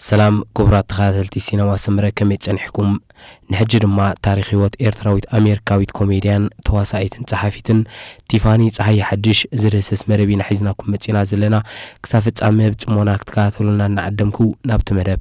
ሰላም ክቡራት ተኸታተልቲ ሲነማ ሰምረ ከመይ ጸኒሕኩም ንሕጂ ድማ ታሪክ ህይወት ኤርትራዊት ኣሜሪካዊት ኮሜድያን ተዋሳኢትን ጸሓፊትን ቲፋኒ ፀሓይ ሓድሽ ዝደስስ መደብ ኢና ሒዝናኩም መጺና ዘለና ክሳብ ፍጻመ ብጽሞና ክትከታተሉና እናዓደምኩ ናብቲ መደብ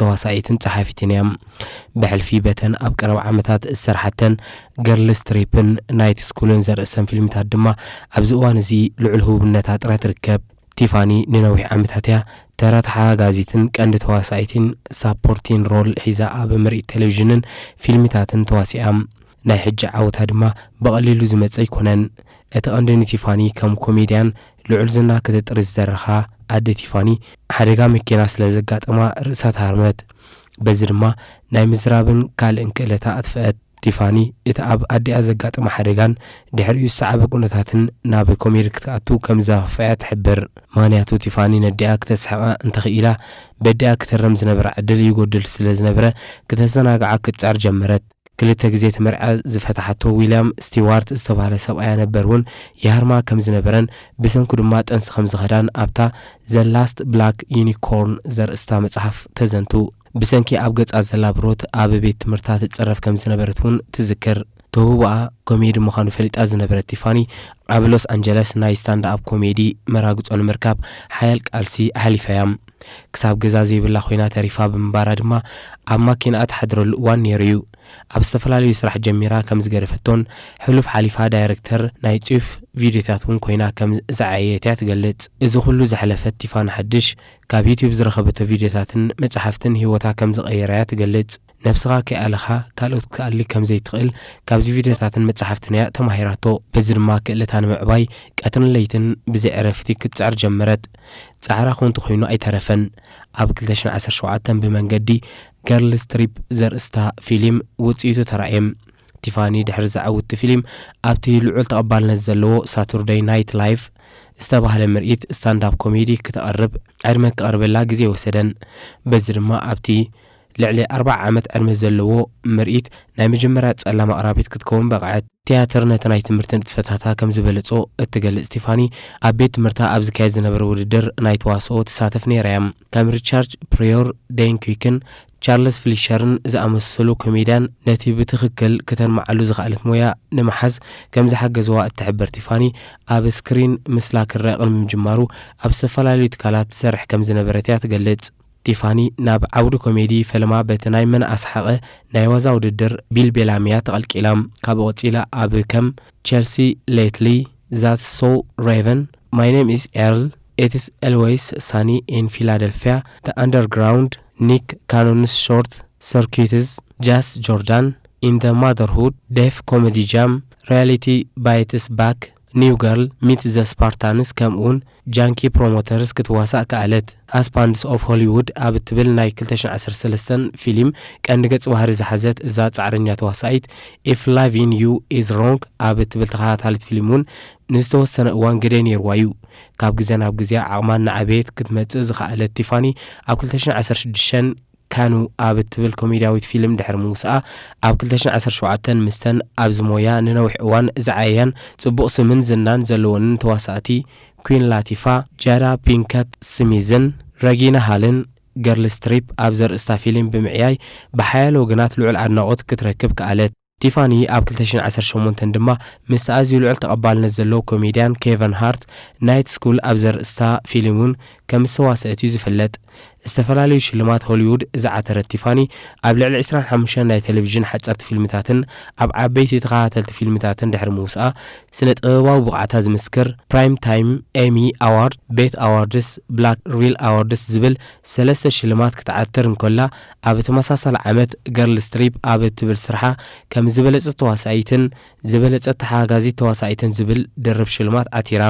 ተዋሳኢትን ጸሓፊትን እያ። ብሕልፊ በተን ኣብ ቀረባ ዓመታት ዝሰርሓተን ገርልስ ትሪፕን ናይት ስኩልን ዘርእሰን ፊልምታት ድማ ኣብዚ እዋን እዚ ልዑል ህቡብነታ ጥራይ ትርከብ። ቲፋኒ ንነዊሕ ዓመታት እያ ተራ ተሓጋጋዚትን ቀንዲ ተዋሳኢትን፣ ሳፖርቲን ሮል፣ ሒዛ ኣብ ምርኢት ቴሌቪዥንን ፊልምታትን ተዋሲኣ። ናይ ሕጂ ዓወታ ድማ ብቐሊሉ ዝመጽእ ኣይኮነን። እቲ ቀንዲ ንቲፋኒ ከም ኮሜድያን ልዑል ዝና ከተጥሪ ዝደረኻ ኣደ ቲፋኒ፣ ሓደጋ መኪና ስለ ዘጋጠማ ርእሳ ተሃርመት። በዚ ድማ ናይ ምዝራብን ካልእን ክእለታ ኣጥፈኣት። ቲፋኒ እቲ ኣብ ኣዲኣ ዘጋጠማ ሓደጋን ድሕሪኡ ዝሰዓበ ኩነታትን ናብ ኮሜዲ ክትኣቱ ከም ዘኸፍኣ'ያ ትሕብር። ምኽንያቱ ቲፋኒ ነዲኣ ክተስሕቓ እንተ ኽኢላ በዲኣ ክትህረም ዝነበራ ዕድል ይጎድል ስለ ዝነበረ ክተዘናግዓ ክትጽዕር ጀመረት። ክልተ ግዜ እቲ መርዓ ዝፈታሓቶ ዊልያም ስቲዋርት ዝተባህለ ሰብኣያ ነበር እውን ይሃርማ ከም ዝነበረን ብሰንኩ ድማ ጥንሲ ከም ዝኸዳን ኣብታ The Last Black Unicorn ዘርእስታ መጽሓፍ ተዘንቱ። ብሰንኪ ኣብ ገጻ ዘላ ብሮት ኣብ ቤት ትምህርታ ትጽረፍ ከም ዝነበረት እውን ትዝክር። ተውህቦኣ ኮሜዲ ምዃኑ ፈሊጣ ዝነበረት ቲፋኒ ኣብ ሎስ ኣንጀለስ ናይ ስታንድ-ኣፕ ኮሜዲ መራግጾ ንምርካብ ሓያል ቃልሲ ኣሕሊፋ'ያ። ክሳብ ገዛ ዘይብላ ኮይና ተሪፋ ብምንባራ ድማ ኣብ ማኪንኣ ትሓድረሉ እዋን ነይሩ እዩ። ኣብ ዝተፈላለዩ ስራሕ ጀሚራ ከም ዝገደፈቶን ሕሉፍ ሓሊፋ ዳይረክተር ናይ ጭፍ ቪድዮታት እውን ኮይና ከም ዝዓየየት እያ ትገልጽ። እዚ ኩሉ ዘሕለፈት ቲፋኒ ሓድሽ ካብ ዩትዩብ ዝረኸበቶ ቪድዮታትን መጻሕፍትን ህይወታ ከም ዝቐየራ እያ ትገልጽ። ነብስኻ ከይኣለኻ ካልኦት ክትኣሊ ከም ዘይትኽእል ካብዚ ቪድዮታትን መጻሕፍትን እያ ተማሂራቶ። በዚ ድማ ክእለታ ንምዕባይ ቀትርን ለይትን ብዘይ ዕረፍቲ ክትጽዕር ጀመረት። ጻዕራ ኮንቱ ኮይኑ ኣይተረፈን። ኣብ ክልተ ሽሕን ዓሰርተ ሸውዓተን ብመንገዲ ገርልስ ትሪፕ ዘርእስታ ፊሊም ውጽኢቱ ተራእየ። ቲፋኒ ድሕሪ ዘዐውቲ ፊሊም ኣብቲ ልዑል ተቐባልነት ዘለዎ ሳቱርደይ ናይት ላይቭ ዝተባህለ ምርኢት ስታንድ-ኣፕ ኮሜዲ ክተቕርብ ዕድመ ክቐርበላ ግዜ ወሰደን። በዚ ድማ ኣብቲ ልዕሊ ኣርብዓ ዓመት ዕድመ ዘለዎ ምርኢት ናይ መጀመርያ ጸላም ኣቕራቢት ክትከውን በቕዐት። ትያትር ነቲ ናይ ትምህርቲ ንጥፈታታ ከም ዝበለጾ እትገልጽ ቲፋኒ፣ ኣብ ቤት ትምህርታ ኣብ ዝካየድ ዝነበረ ውድድር ናይ ተዋስኦ ትሳተፍ ነይራ እያ። ከም ሪቻርድ ፕሪዮር፣ ደይን ኲክን፣ ቻርለስ ፍሊሸርን ዝኣመሰሉ ኮሜድያን ነቲ ብትኽክል ክተልምዓሉ ዝኸኣለት ሞያ ንምሓዝ ከም ዝሓገዝዋ እትሕብር ቲፋኒ፣ ኣብ ስክሪን ምስላ ክርኣ ቅድሚ ምጅማሩ ኣብ ዝተፈላለዩ ትካላት ትሰርሕ ከም ዝነበረት እያ ትገልጽ። ቲፋኒ ናብ ዓውዲ ኮሜዲ ፈልማ በቲ ናይ መን ኣስሓቐ ናይ ዋዛ ውድድር ቢልቤላም'ያ ተቐልቂላ። ካብኡ ቀጺላ ኣብ ከም ቸልሲ ሌትሊ፣ ዛትስ ሶው ሬቨን፣ ማይ ኔም ኢዝ ኤርል፣ ኢትስ ኤልዌይስ ሳኒ ኢን ፊላደልፍያ፣ ዘ ኣንደርግራውንድ፣ ኒክ ካኖንስ ሾርት ሰርኪዩትስ፣ ጃስ ጆርዳን ኢን ዘ ማዘርሁድ፣ ዴፍ ኮሜዲ ጃም፣ ሪያሊቲ ባይትስ ባክ፣ ኒው ገርል ሚት ዘ ስፓርታንስ ከምኡውን ጃንኪ ፕሮሞተርስ ክትዋሳእ ከኣለት። ሃስባንድስ ኦፍ ሆሊዉድ ኣብ እትብል ናይ ክልተ ሽሕን ዓሰርተ ሰለስተን ፊሊም ቀንዲ ገጽ ባህሪ ዝሓዘት እዛ ጻዕረኛ ተዋሳኢት፣ ኢፍ ላቪን ዩ ኢዝ ሮንግ ኣብ እትብል ተኸታታሊት ፊሊም'ውን ንዝተወሰነ እዋን ግደ ነይርዋ'ዩ። ካብ ግዜ ናብ ግዜ ዓቕማ እናዓበየት ክትመጽእ ዝኸኣለት ቲፋኒ ኣብ ክልተ ሽሕን ዓሰርተ ሽዱሽተን፣ ካኑ ኣብ እትብል ኮሜድያዊት ፊልም ድሕሪ ምውጽኣ፣ ኣብ ክልተ ሽሕን ዓሰርተ ሸውዓተን ምስተን ኣብዚ ሞያ ንነዊሕ እዋን ዝዓየያን ጽቡቕ ስምን ዝናን ዘለወንን ተዋሳእቲ ኲን ላቲፋ፣ ጃዳ ፒንከት ስሚዝን ረጊና ሃልን፣ ገርል ስትሪፕ፣ ኣብ ዘርእስታ ፊልም ብምዕያይ ብሓያለ ወገናት ልዑል ኣድናቖት ክትረክብ ከኣለት። ቲፋኒ ኣብ ክልተ ሽሕን ዓሰርተ ሸሞንተን ድማ ምስቲ ኣዝዩ ልዑል ተቐባልነት ዘለዎ ኮሜድያን ኬቨን ሃርት ናይት ስኩል ኣብ ዘርእስታ ፊልም እውን ከም ዝተዋስኣት እዩ ዝፍለጥ። ዝተፈላለዩ ሽልማት ሆሊዉድ ዝዓተረት ቲፋኒ፣ ኣብ ልዕሊ ዕስራን ሓሙሽተን ናይ ተለቪዥን ሓጸርቲ ፊልምታትን ኣብ ዓበይቲ ተኸታተልቲ ፊልምታትን ድሕሪ ምውስኣ፣ ስነ-ጥበባዊ ብቕዓታ ዝምስክር ፕራይም ታይም ኤሚ ኣዋርድ፣ ቤት ኣዋርድስ፣ ብላክ ሪል ኣዋርድስ ዝብል ሰለስተ ሽልማት ክትዓትር እንከላ፣ ኣብ ተመሳሳሊ ዓመት ገርልስ ትሪፕ ኣብ እትብል ስርሓ ከም ዝበለጸት ተዋሳኢትን ዝበለጸት ተሓጋጋዚት ተዋሳኢትን ዝብል ድርብ ሽልማት ዓቲራ።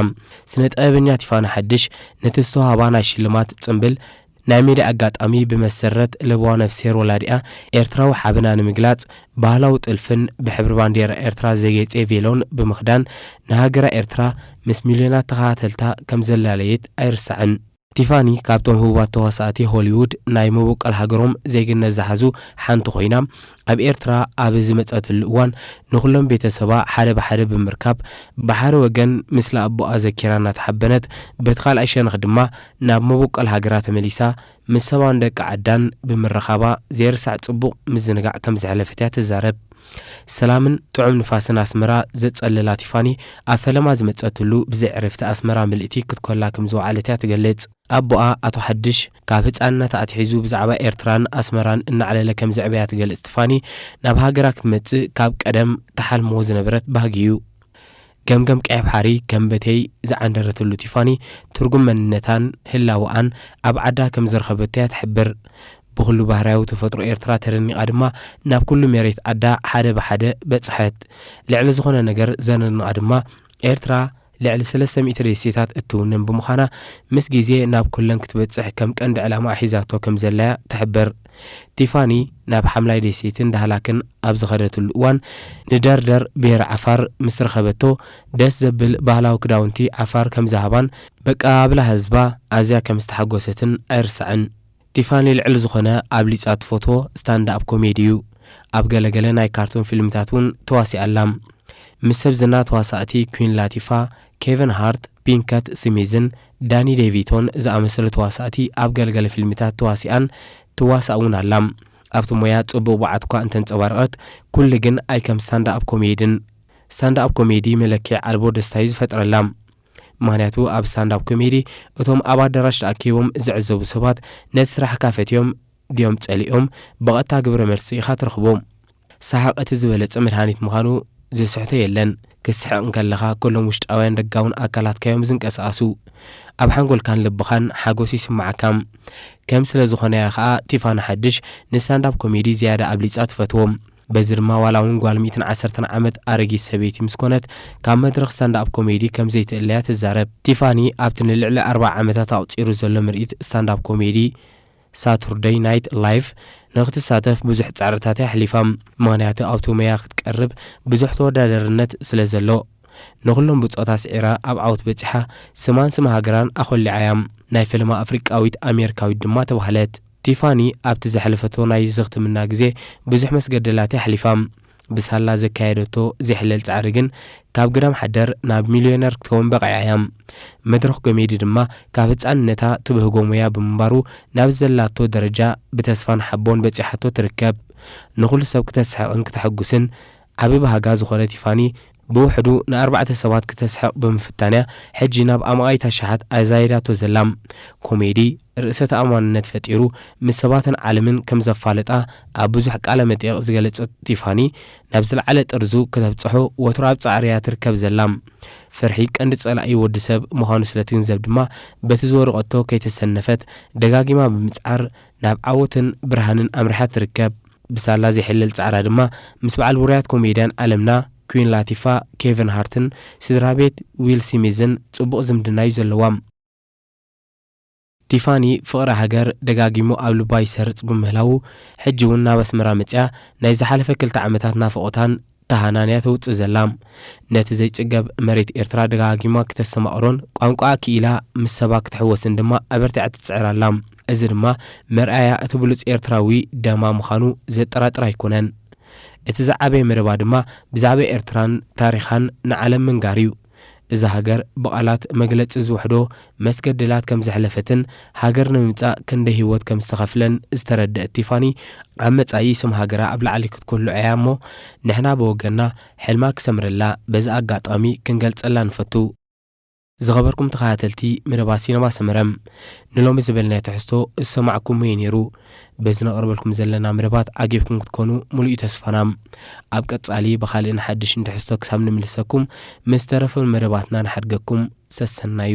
ስነ ጥበበኛ ቲፋኒ ሓድሽ ነቲ ዝተዋህባ ናይ ሽልማት ጽምብል ናይ ሜድያ ኣጋጣሚ ብመሰረት ለበዋ ነፍስሄር ወላዲኣ ኤርትራዊ ሓበና ንምግላጽ ባህላዊ ጥልፍን ብሕብሪ ባንዴራ ኤርትራ ዘጌጼ ቬሎን ብምኽዳን ንሃገራ ኤርትራ ምስ ሚልዮናት ተኸታተልታ ከም ዘላለየት ኣይርሳዕን። ቲፋኒ ካብቶም ህቡባት ተዋሳእቲ ሆሊዉድ ናይ መቦቀል ሃገሮም ዜግነት ዝሓዙ ሓንቲ ኮይና፣ ኣብ ኤርትራ ኣብ ዝመጸትሉ እዋን ንኹሎም ቤተሰባ ሓደ ብሓደ ብምርካብ ብሓደ ወገን ምስሊ ኣቦኣ ዘኪራ እናተሓበነት በቲ ካልኣይ ሸነኽ ድማ ናብ መቦቀል ሃገራ ተመሊሳ ምስ ሰባን ደቂ ዓዳን ብምርኻባ ዘይርሳዕ ጽቡቕ ምዝንጋዕ ከምዘሕለፈት'ያ ትዛረብ። ሰላምን ጥዑም ንፋስን ኣስመራ ዘጸልላ ቲፋኒ፣ ኣብ ፈለማ ዝመጸትሉ ብዘይ ዕረፍቲ ኣስመራ ምልእቲ ክትኮላ ከም ዝወዓለት እያ ትገልጽ። ኣቦኣ ኣቶ ሓድሽ፣ ካብ ህጻንነታ ኣትሒዙ ብዛዕባ ኤርትራን ኣስመራን እናዕለለ ከም ዘዕበያ ትገልጽ ቲፋኒ፣ ናብ ሃገራ ክትመጽእ ካብ ቀደም ትሓልሞ ዝነበረት ባህጊ እዩ። ገምገም ቀይባሕሪ ከም በተይ ዝዓንደረትሉ ቲፋኒ ትርጉም መንነታን ህላወኣን ኣብ ዓዳ ከም ዝረኸበቶ'ያ ትሕብር። ብኹሉ ባህርያዊ ተፈጥሮ ኤርትራ ተደኒቓ ድማ ናብ ኩሉ ሜሬት ዓዳ ሓደ ብሓደ በጽሐት። ልዕሊ ዝኾነ ነገር ዘነድንቓ ድማ ኤርትራ ልዕሊ ሰለስተ ሚእቲ ደሴታት እትውንን ብምዃና ምስ ግዜ ናብ ኩለን ክትበጽሕ ከም ቀንዲ ዕላማኣ ሒዛቶ ከም ዘላ'ያ ትሕብር። ቲፋኒ ናብ ሓምላይ ደሴትን ዳህላክን ኣብ ዝኸደትሉ እዋን ንደርደር ብሄረ ዓፋር ምስ ረኸበቶ ደስ ዘብል ባህላዊ ክዳውንቲ ዓፋር ከምዝሃባን በቀባብላ ህዝባ ኣዝያ ከምዝተሓጎሰትን ኣይርሳዕን። ቲፋኒ ልዕሊ ዝኾነ ኣብሊጻ ትፈትዎ ስታንድኣፕ ኮሜዲ እዩ። ኣብ ገለ ገለ ናይ ካርቱን ፊልምታት እውን ተዋሲኣ ኣላ። ምስ ሰብ ዝና ተዋሳእቲ ኲን ላቲፋ፣ ኬቨን ሃርት፣ ፒንከት ስሚዝን ዳኒ ዴቪቶን ዝኣመሰሉ ተዋሳእቲ ኣብ ገለ ገለ ፊልምታት ተዋሲኣን ትዋሳእ እውን ኣላ። ኣብቲ ሞያ ጽቡቕ ብቕዓት'ኳ እንተንጸባረቐት፣ ኩሉ ግን ኣይከም ስታንድኣፕ ኮሜድን። ስታንድኣፕ ኮሜዲ መለክዒ ኣልቦ ደስታ'ዩ ዝፈጥረላ። ምኽንያቱ ኣብ ስታንድኣፕ ኮሜዲ እቶም ኣብ ኣዳራሽ ተኣኪቦም ዝዕዘቡ ሰባት ነቲ ስራሕካ ፈትዮም ድዮም ጸሊኦም ብቐጥታ ግብረ መልሲ ኢኻ ትረኽቦ። ሰሓቕ እቲ ዝበለጸ መድሃኒት ምዃኑ ዝስሕቶ የለን። ክትስሕቕ እንከለኻ ኩሎም ውሽጣውያን ደጋውን ኣካላትካ'ዮም ዝንቀሳቐሱ። ኣብ ሓንጎልካን ልብኻን ሓጎስ ይስምዓካ። ከም ስለዝኾነ'ያ ከኣ ቲፋኒ ሓድሽ ንስታንዳፕ ኮሜዲ ዝያዳ ኣብሊጻ ትፈትዎ። በዚ ድማ ዋላ'ውን ጓል ሚእትን ዓሰርተን ዓመት ኣረጊት ሰበይቲ ምስ ኮነት ካብ መድረኽ ስታንዳፕ ኮሜዲ ከም ዘይትእለ'ያ ትዛረብ። ቲፋኒ ኣብቲ ንልዕሊ ኣርብዓ ዓመታት ኣቑጺሩ ዘሎ ምርኢት ስታንዳፕ ኮሜዲ፣ ሳቱርደይ ናይት ላይቭ ንኽትሳተፍ ብዙሕ ጻዕርታት እያ ኣሕሊፋ፣ ምኽንያቱ ኣብቲ ሞያ ክትቀርብ ብዙሕ ተወዳዳርነት ስለ ዘሎ። ንኹሎም ብጾት ኣስዒራ ኣብ ዓወት በጺሓ፣ ስማን ስም ሃገራን ኣኾሊዓ እያ። ናይ ፈለማ ኣፍሪቃዊት ኣሜሪካዊት ድማ ተባህለት። ቲፋኒ ኣብቲ ዘሕለፈቶ ናይ ዝኽትምና ግዜ ብዙሕ መስገደላት እያ ኣሕሊፋ። ብሳላ ዘካየደቶ ዜሕለል ጻዕሪ ግን ካብ ግዳም ሓደር ናብ ሚልዮነር ክትከውን በቒዓ እያ። መድረኽ ኮሜዲ ድማ ካብ ህጻንነታ ትብህጎ ሞያ ብምንባሩ ናብዚ ዘላቶ ደረጃ ብተስፋን ሓቦን በጺሓቶ ትርከብ። ንኹሉ ሰብ ክተስሕቕን ክተሐጉስን ዓቢ ባህጋ ዝኾነት ይፋኒ ብውሕዱ ንኣርባዕተ ሰባት ክተስሕቕ ብምፍታን'ያ ሕጂ ናብ ኣማኢት ኣሽሓት ኣዛይዳቶ ዘላ። ኮሜዲ፣ ርእሰ ተኣማንነት ፈጢሩ ምስ ሰባትን ዓለምን ከም ዘፋልጣ ኣብ ብዙሕ ቃለ መጠይቕ ዝገለጸቶ ቲፋኒ፣ ናብ ዝለዓለ ጥርዙ ከተብጽሖ ወትሩ ኣብ ጻዕሪ'ያ ትርከብ ዘላ። ፍርሒ ቀንዲ ጸላኢ ወዲ ሰብ ምዃኑ ስለ ትግንዘብ ድማ በቲ ዝወደቐቶ ከይተሰነፈት ደጋጊማ ብምጽዓር ናብ ዓወትን ብርሃንን ኣምሪሓ ትርከብ። ብሳላ ዘይሕለል ጻዕራ ድማ ምስ በዓል ውሩያት ኮሜድያን ዓለምና ኲን ላቲፋ፣ ኬቨን ሃርትን ስድራ ቤት ዊል ሲሚዝን ጽቡቕ ዝምድና'ዩ ዘለዋ። ቲፋኒ ፍቕሪ ሃገር ደጋጊሙ ኣብ ልባ ይሰርጽ ብምህላዉ ሕጂ'ውን ናብ ኣስመራ መጺኣ ናይ ዝሓለፈ ክልተ ዓመታት ናፍቖታን እታ ሃናንያ ተውጽእ ዘላ፣ ነቲ ዘይጽገብ መሬት ኤርትራ ደጋጊማ ክተስተማቕሮን ቋንቋኣ ክኢላ ምስ ሰባ ክትሕወስን ድማ ኣበርቲዓ ትጽዕር ኣላ። እዚ ድማ መርኣያ እቲ ብሉጽ ኤርትራዊ ደማ ምዃኑ ዘጠራጥር ኣይኮነን። እቲ ዝዓበየ መደባ ድማ ብዛዕባ ኤርትራን ታሪኻን ንዓለም ምንጋር እዩ። እዛ ሃገር ብቓላት መግለጺ ዝውሕዶ መስገደላት ከም ዘሕለፈትን ሃገር ንምምጻእ ክንደይ ህይወት ከም ዝተኸፍለን ዝተረደእት ቲፋኒ፣ ኣብ መጻኢ ስም ሃገራ ኣብ ላዕሊ ክትኩልዕ እያ እሞ ንሕና ብወገንና ሕልማ ክሰምረላ በዚ ኣጋጣሚ ክንገልጸላ ንፈቱ። ዝኸበርኩም ተኸታተልቲ መደባት ሲነማ ሰመረ ንሎሚ ዝበልናዮ ትሕዝቶ ዝሰማዕኩምዎ እዩ ነይሩ። በዚ ነቕርበልኩም ዘለና መደባት ዓጊብኩም ክትኮኑ ሙሉኢ ተስፋና። ኣብ ቀጻሊ ብኻልእን ሓድሽን ትሕዝቶ ክሳብ ንምልሰኩም ምስ ዝተረፉ መደባትና ንሓድገኩም። ሰሰናዩ።